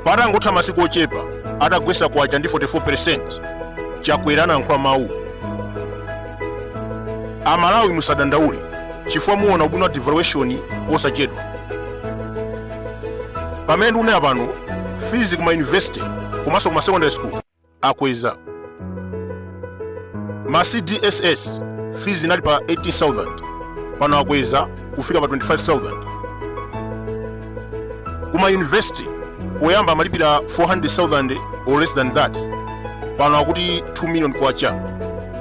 patangotha masiku ochepa atagwetsa kwacha ndi 44% chakwera anayankhula mawu amalawi musadandaule chifukwa muona ubwino wa devaluation posachedwa pamene ndikunena pano fees kuma university komanso kuma secondary school akweza ma cdss fees inali pa 18000 pano akweza kufika pa 25000 kuma university poyamba amalipira 400000 or less than that pano akuti 2 million kwacha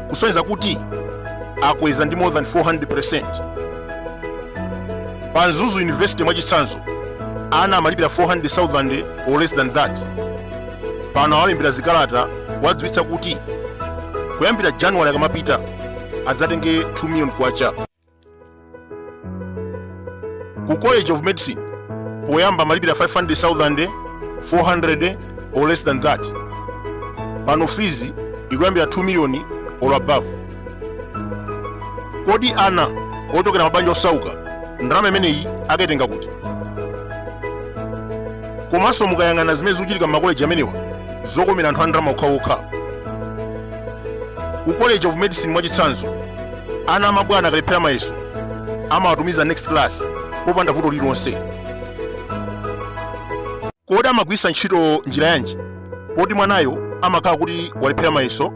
kusonyeza kuti akweza ndi more than 400% pa mzuzu university mwachitsanzo ana amalipira 400000 or less than that pano awalembera zikalata kuwadziwitsa kuti kuyambira january akamapita adzatenge 2 million kwacha ku college of medicine poyamba amalipira 500000 400 or less than that pano fees ikuyambira 2 million or above kodi ana ochokera mabanja osauka ndalama imeneyi akaitenga kuti komanso mukayang'ana zimene zikuchitika m'makoleji amenewa zokomera anthu a ndalama okhaokha ku college of medicine mwachitsanzo Ana amabwana akalephera mayeso amawatumiza next class popanda vuto lililonse. Kodi amagwiritsa ntchito njira yanji poti mwanayo amakhala kuti walephera mayeso?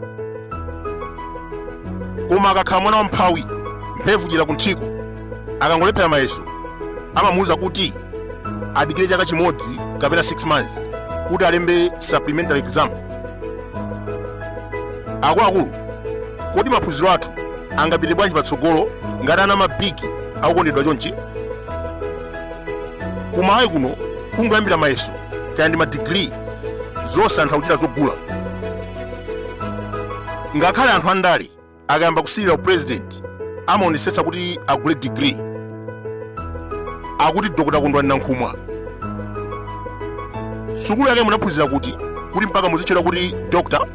Koma akakhala mwana wamphawi mphevu chira kunthiko akangolephera mayeso amamuwuza kuti adikire chaka chimodzi kapena 6 months kuti alembe supplementary exam. Akuluakulu kodi maphunziro athu angapite bwanji patsogolo ngati ana amabigi akukondedwa chonchi kumalawi kuno kungoyambira mayeso kaya ndi madigiri zonse anthu akuchita zogula ngakhale anthu andale akayamba kusilira upurezidenti amaonetsetsa kuti agule digiri akuti dr kondwani nankhumwa sukulu yake munaphunzira kuti kuti mpaka muzitchedwa kuti dr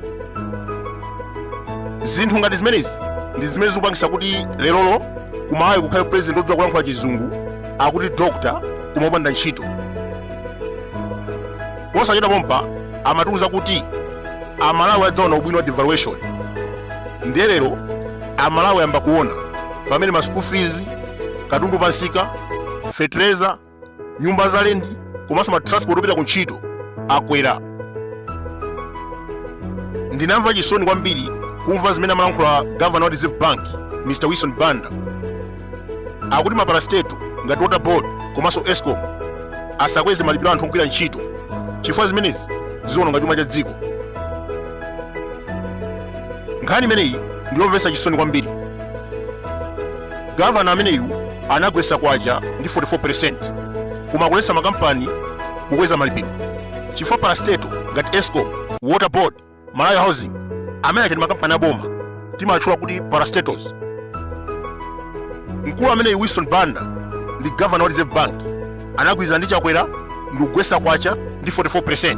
zinthu ngati zimenezi ndi zimene zikupangitsa kuti lerolo kumalawi kukhale president odziwa kulankhula chizungu akuti dr koma opanda ntchito posachedwa pompa amatiuza kuti amalawi adzaona ubwino wa devaluation ndiye lero amalawi ayamba kuona pamene ma school fees katundu pansika fertilizer nyumba za lendi komanso ma transport opita ku ntchito akwera ndinamva chisoni kwambiri kumva zimene amalankhula gavana wa reserve bank mr wilson banda akuti maparasteto ngati water board komanso escom asakweze malipiro anthu ogwira ntchito chifukwa zimenezi ziwononga chuma cha dziko nkhani imeneyi ndiyomvetsa chisoni kwambiri gavana ameneyu anagwetsa kwacha ndi 44% koma akuletsa makampani kukweza malipiro chifukwa parasteto ngati escom water board Malawi Housing amene aja ndi makampani aboma timatchula kuti parastatals. Mkulu ameneyi Wilson Banda ndi governor wa Reserve Bank anagwirizana ndi Chakwera ndi kugwetsa kwacha ndi 44%.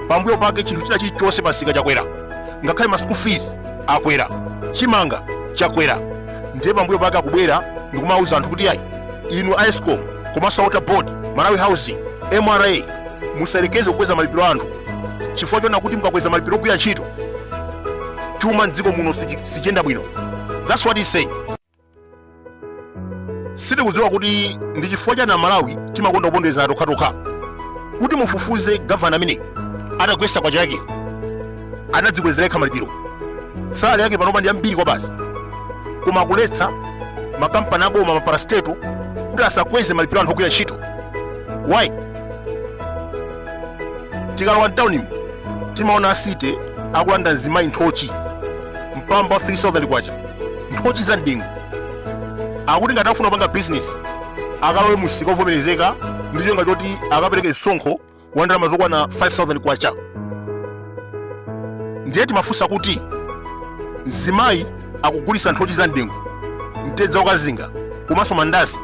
Pambuyo pake chinthu china chilichonse pamsika chakwera ngakhale ma school fees akwera chimanga chakwera ndiye pambuyo pake akubwera ndikumauza anthu kuti ayi inu a escom komanso a water board malawi housing mra musayerekeze kukweza malipiro a anthu chifukwa chonena kuti mukakweza malipiro ogwira ntchito chuma mdziko muno sichiyenda bwino that's what he say sitikudziwa kuti ndi chifukwa chani amalawi timakonda kuponderezana tokhatokha kuti mufufuze gavana ameneyi atagwesa kwacha yake anadzikwezera yekha malipiro salary yake panopa ndi yambiri kwabasi koma akuletsa makampani aboma maparasteto kuti asakweze malipiro anthu ogwira ntchito why tikalowa mtaunimu timaona a city akulanda mzimayi nthochi mpamba wa 3000 kwacha nthochi za mdengu akuti ngati akufuna kupanga bizinesi akalowe mumsika ovomerezeka ndi cholinga choti akapereke msonkho wa ndalama zokwana 5000 kwacha ndiye timafunsa kuti mzimayi akugulisa nthochi za mdengu mtedza wokazinga komanso mandazi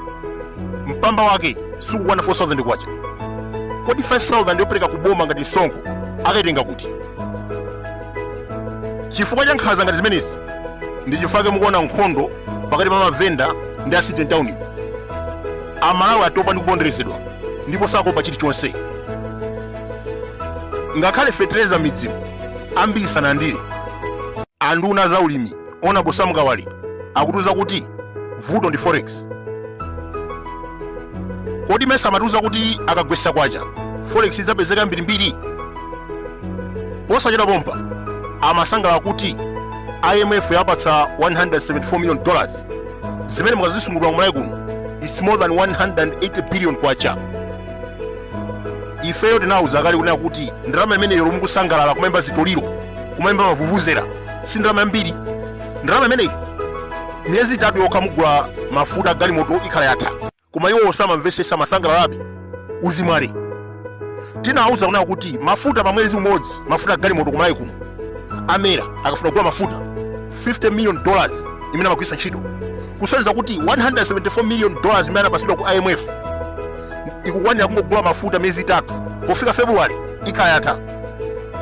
mpamba wake sukukwana 4000 kwacha kodi 5000 yopereka kuboma ngati msonkho akaitenga kuti chifukwa cha nkhanza ngati zimenezi ndi chifukwa mukuona nkhondo pakati pa mavenda ndi a city mtaunimu amalawi atopa ndi kuponderezedwa ndipo sakuopa chilichonse ngakhale fetereza mmidzimu ambiri sanalandire anduna a za ulimi honourable sam kawale akutiuza kuti vuto ndi forex kodi mesa amatiuza kuti akagwesa kwacha forex idzapezeka yambirimbiri posachedwa pompa amasangalala kuti imf yawapatsa 174 million dollars zimene mukazisungunula ku malawi kuno its more than 180 billion kwacha ifeyo tinawuza kale kunena kuti ndalama imeneyo lomwe mukusangalala kumayimba zitoliro kumayimba mavuvuzera si ndalama yambiri ndalama imeneyi miyezi itatu yokha mugula mafuta agalimoto ikhala yatha koma iwo samamvesesa amasangalalabe uzimwale tinawuza kunena kuti mafuta pa mwezi umodzi mafuta agalimoto kumalawi kuno admera akafuna kugula mafuta 50 million dollars imene amagwiritsa ntchito kusonyeza kuti 174 million dollars imene anapasidwa ku imf ikukwanira kungogula mafuta miyezi itatu pofika february ikhala yatha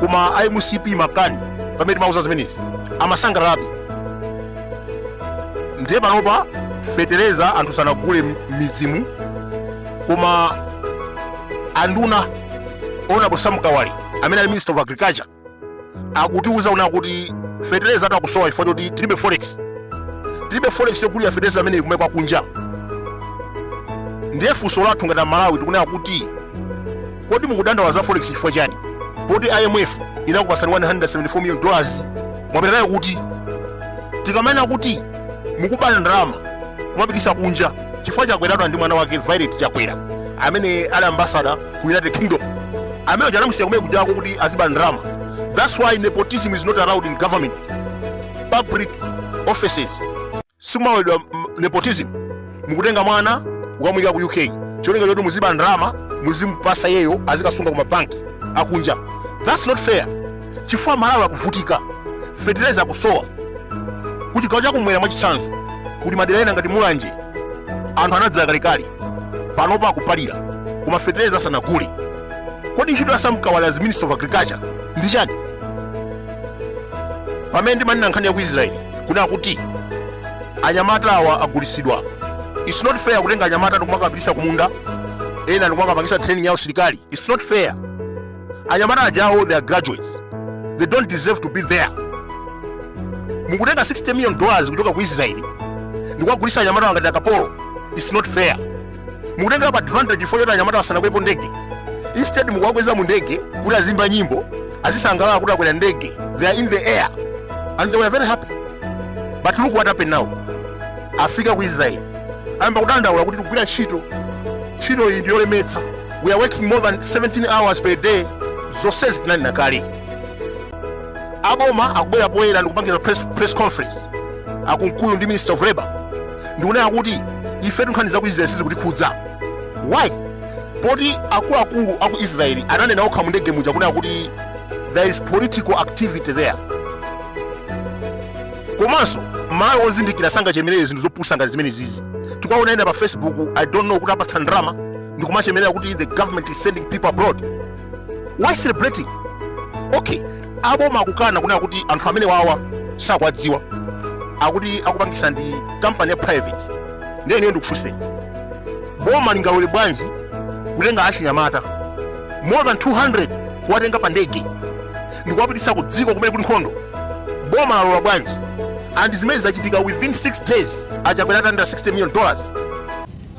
koma a mcp makani pamene timauza zimenezi amasangalalabe ndiye panopa fetereza anthu sanagule m- m'midzimu koma anduna honorable sam kawale amene ali minister of agriculture akutiuza kunena kuti fetereza akusowa chifukwa choti tilibe forex tilibe forex yogulira fetereza amene ikumwe kwa kunja ndiye funso lathu ngati amalawi tikunena kuti kodi mukudandaula za forex chifukwa chani poti imf inakupasani 174 million dollars mwapita nayo kuti tikamanena kuti mukuba ndalama kumapitisa kunja chifukwa chakweratu ali ndi mwana wake violet chakwera amene ali ambasada ku united kingdom amene ujayo anamusiya kumene kujako kuti aziba ndalama thats why nepotism is not allowed in government public offices sikumaloledwa mm, nepotism mukutenga mwana kukamuyika ku uk cholinga choti muziba ndalama muzimupasa iyeyo azikasunga ku mabanki akunja thats not fair chifukwa amalawi akuvutika fetereza akusowa ku chigawo chakumwera mwachitsanzo kuti madera ena ngati mulanje anthu anadzala kalekale panopa akupalira koma fetereza sanagule kodi ntchito ya sam kawale as minister of agriculture ndi chani pamene ndimanena nkhani ya ku israeli kunena kuti anyamata awa agulisidwa its not fair kutenga anyamata ndikumakapitisa kumunda ena ndikumakapangisa training ya usilikali its not fair anyamata ajawo they are graduates they don't deserve to be there mukutenga 60 million dollars kuchoka ku israeli ndikuwagulisa anyamatawo ngati akapolo its not fair mukutengerapo advantage yoti anyamata asanakwepo ndege instead mukuwakweza mu ndege kuti aziimba nyimbo azisangalala kuti akwera ndege they are in the air and they were very happy but look what happened now afika ku israeli ayamba kudandaula kuti tikugwira ntchito ntchito iyi ndiyolemetsa we are working more than 17 hours per day zonsezi tinanena kale aboma akubwera poyera ndikupangisa press conference akunkulu ndi minister of labor ndikunena kuti ifetu nkhani za ku israel sizikutikhudza why poti akuluakulu aku israel ananena okha mu ndege muja kunena kuti there is political activity there komanso mmalawi ozindikira sangachemerere zinthu zopusa ngati zimenezizi tikuwaona ena pa facebook i don't know kuti apatsa ndalama ndikumachemerera kuti the government is sending people abroad why celebrating okay aboma akukana kunena kuti anthu amene wawa sakwadziwa akuti akupangisa ndi company ya private ndiye ineyo ndikufunse boma lingalole bwanji kutenga achinyamata more than 200 kuwatenga pa ndege ndikuwapitisa ku dziko kumene kuli nkhondo boma lalola bwanji and zimene zachitika within 6 days achakwera atalandira 60 million dollars